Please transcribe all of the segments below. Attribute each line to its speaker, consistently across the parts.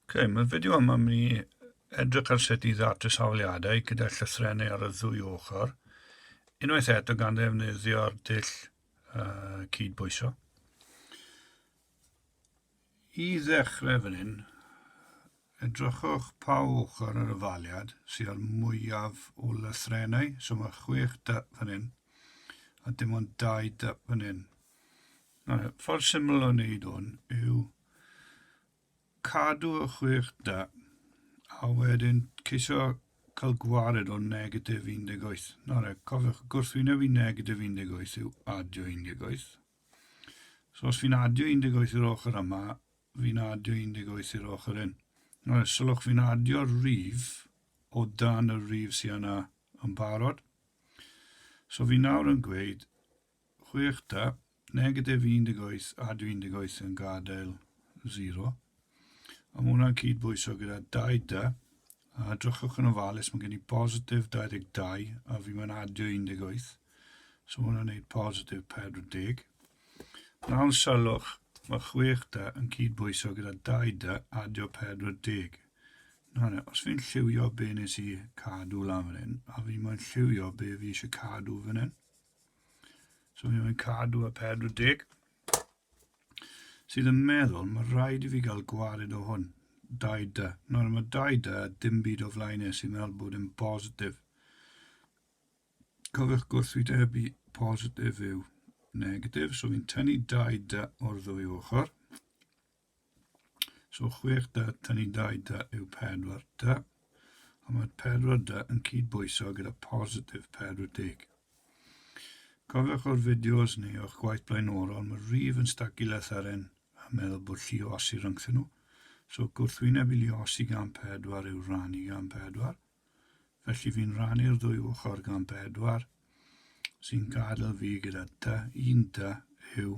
Speaker 1: Ok, mae'r fideo yma mynd i edrych ar sut i ddatu safliadau gyda llythrennau ar y ddwy ochr, unwaith eto gan ddefnyddio'r dull uh, cyd-bwyso. I ddechrau fan hyn, edrychwch pa ochr ar y faliad sydd â'r mwyaf o lythrennau, so mae chwech dyp fan hyn, a dim ond dau dyp fan hyn. Nawr, y ffordd syml o wneud hwn yw cadw y chwech da a wedyn ceisio cael gwared o negatif 18. Nawr, e, cofiwch, gwrthwyneb i negatif 18 yw adio 18. So os fi'n adio 18 i'r ochr yma, fi'n adio 18 i'r ochr hyn. Nawr, sylwch fi'n adio'r rif o dan y rif sy'n yna yn barod. So fi nawr yn gweud Chwech ta, negatif 18 a 18 yn gadael 0. A mae hwnna'n cyd-bwyso gyda 2 ta, a drychwch yn ofalus, mae gen i positif 22 a fi mae'n adio 18. So mae hwnna'n gwneud positif 40. Nawr sylwch, mae 6 ta yn cyd-bwyso gyda 2 ta adio 40. Nawr, os fi'n lliwio be nes i cadw lan fan hyn, a fi mae'n lliwio be fi eisiau cadw fan hyn, So mi mae'n cadw y 40 sydd yn meddwl mae rhaid i fi gael gwared o hwn. 2D. Nawr mae 2D a dim byd o flaen e sy'n meddwl bod yn positif. Cofiwch gwrthwydebu positif yw negatif, so fi'n tynnu 2D o'r ddwy ochr. So chwech da, tynnu dau da yw pedwar da, a mae'r pedwar da yn cyd-bwyso gyda positif 40. Cofiwch o'r fideos neu o'ch gwaith blaenorol, mae'r rif yn stacu letharen a meddwl bod llu o osi rhyngthyn nhw, so gwrthwyneb i llu osi gan pedwar yw rannu gan pedwar, felly fi'n rannu'r ddwy ochr gan bedwar, sy'n gadael fi gyda dy un dy yw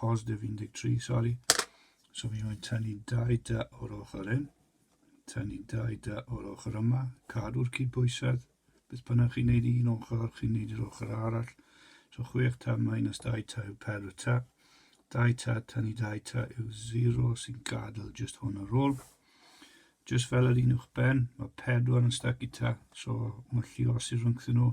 Speaker 1: positif 13, sori. So fi'n mynd tynnu dau da o'r ochr hyn, tynnu dau da o'r ochr yma, cadw'r cydbwysedd, beth bynnag chi'n neud i un ochr, chi'n neud i'r ochr arall. So chwech ta minus dau ta yw pedwr ta. Dau ta, tynnu dau ta yw 0 sy'n gadael just hwn ar ôl. Just fel yr un uwch ben, mae pedwar yn stac i ta, so mae llios i'r rhwngthyn nhw.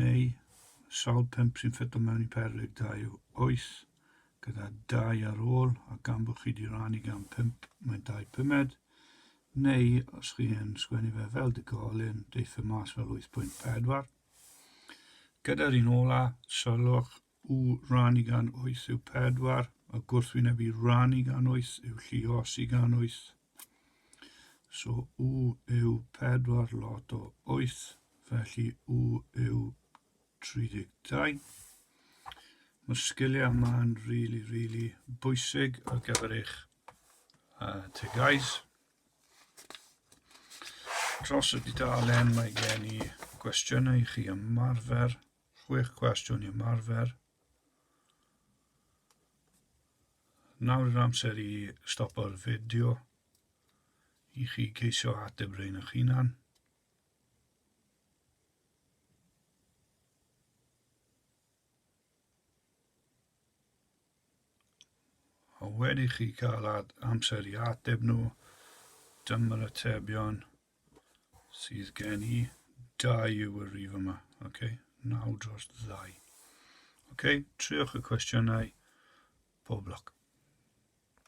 Speaker 1: neu sawl pump sy'n ffito mewn i perlyg dau oes, gyda dau ar ôl, a gan bod chi wedi rannu gan pump, mae'n dau pumed, neu os chi yn sgwennu fe fel digolyn, deitha mas fel 8.4. Gyda'r un ola, sylwch u rannu gan oes yw pedwar, a gwrthwyneb i rannu gan oes yw lliosi gan oes. So u yw pedwar lot o oes, felly u yw 32. Mae sgiliau yma'n really, really bwysig ar gyfer eich uh, tegais. Tros y dudalen mae gen i gwestiynau i chi ymarfer Chwech cwestiwn i ymarfer. Nawr yw'r amser i stopo'r fideo i chi ceisio ateb rhain eich hunan. A wedi chi cael amser i ateb nhw, dyma'r atebion. sydd gen i. Dau yw y rif yma. Okay? 9 dros 2. Okay? Triwch y cwestiynau pob lwc.